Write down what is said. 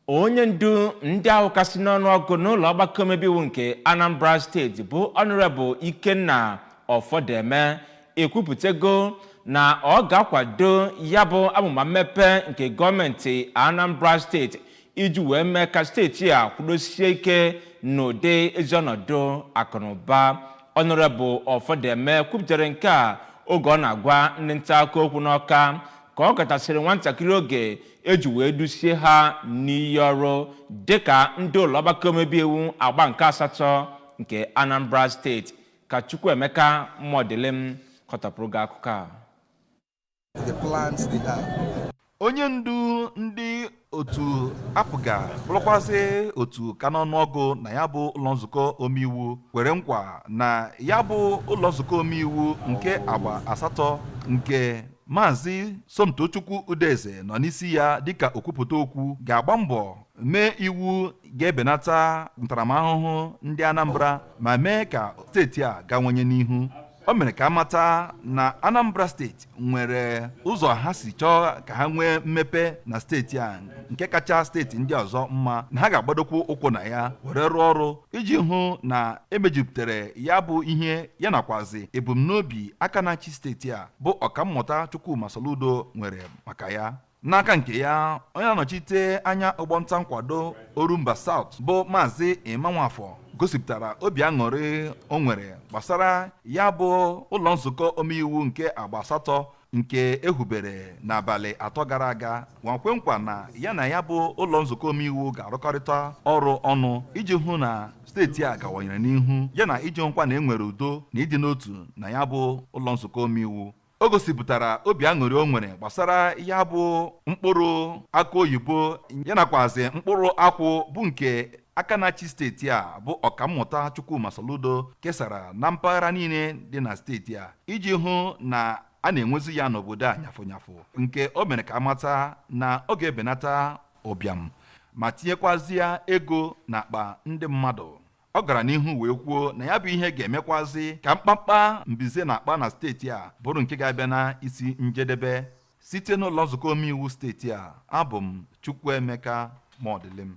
onye ndu ndị ahụ kasị n'ọnụ ọgụ n'ụlọ ọgbakọ omebe iwu nke anambra steeti bụ honorable ikenna ọfọdeme ekwupụtago na ọ ga-akwado ya bụ amụma mmepe nke gọọmenti anambra steeti iji wee mee ka steeti a kwudosie ike n'ụdị ezi ọnọdụ akụnụba honorable ọfọdeme kwupụtara nke a oge ọ na-agwa ndị nta akụkọ okwu n'ọka ka ọ gatasịrị nwantakịrị oge e ji wee dusie ha n'iyi ọrụ dịka ndị ụlọọgbakọ omebe iwu agba nke asatọ nke Anambra steeti ka Chukwuemeka Modilim kọtọpụrụ gị akụkọ a onye ndu ndị otu APGA bụrụkwazị otu ka n'ọnụọgụ na ya bụ ụlọ nzukọ omeiwu kwere nkwa na ya bụ ụlọ nzukọ omeiwu nke agba asatọ nke Maazị Somtochukwu Udeze nọ n'isi ya dịka okwupụta okwu ga-agba mbọ mee iwu ga-ebenata ntaramahụhụ ndị Anambra ma mee ka steeti a gawanye n'ihu o mere ka a mata na Anambra steeti nwere ụzọ ha si chọọ ka ha nwee mmepe na steeti a nke kacha steeti ndị ọzọ mma na ha ga-agbadokwu ụkwụ na ya were rụọ ọrụ iji hụ na e mejupụtara ya bụ ihe ya nakwazi ebumnobi aka na-achị steeti a bụ ọkammụta Chukwuma Soludo nwere maka ya n'aka nke ya onye na-anọchite anya ọgbọ nta nkwado Orumba South bụ Maazị Emma Nwafọ gosipụtara obi aṅụrị o nwere gbasara ya bụ ụlọ nzukọ omeiwu nke agba asatọ nke e hubere n'abalị atọ gara aga ma kwe nkwa na ya na ya bụ ụlọ nzukọ omeiwu ga-arụkọrịta ọrụ ọnụ iji hụ na steeti a gawanyere n'ihu ya na iji hụkwa na e nwere udo na ịdị n'otu na ya bụ ụlọ nzukọ omeiwu o gosipụtara obi aṅụrị o nwere gbasara ya bụ mkpụrụ akụ oyibo ya nakwazi mkpụrụ akwụ bụ nke aka na-achị steeti a bụ ọkammụta Chukwuma Soludo kesara na mpaghara niile dị na steeti a iji hụ na a na-enwezi ya n'obodo a nyafụnyafụ nke o mere ka a mata na ọ ga-ebenata ụbịam ma tinyekwazịa ego n'akpa ndị mmadụ ọ gara n'ihu wee kwuo na ya bụ ihe ga-emekwazị ka mkpamkpa mbize na-akpa na steeti a bụrụ nke ga-abịa na isi njedebe site n'ụlọ nzukọ omeiwu steeti a abụ m Chukwuemeka Modilim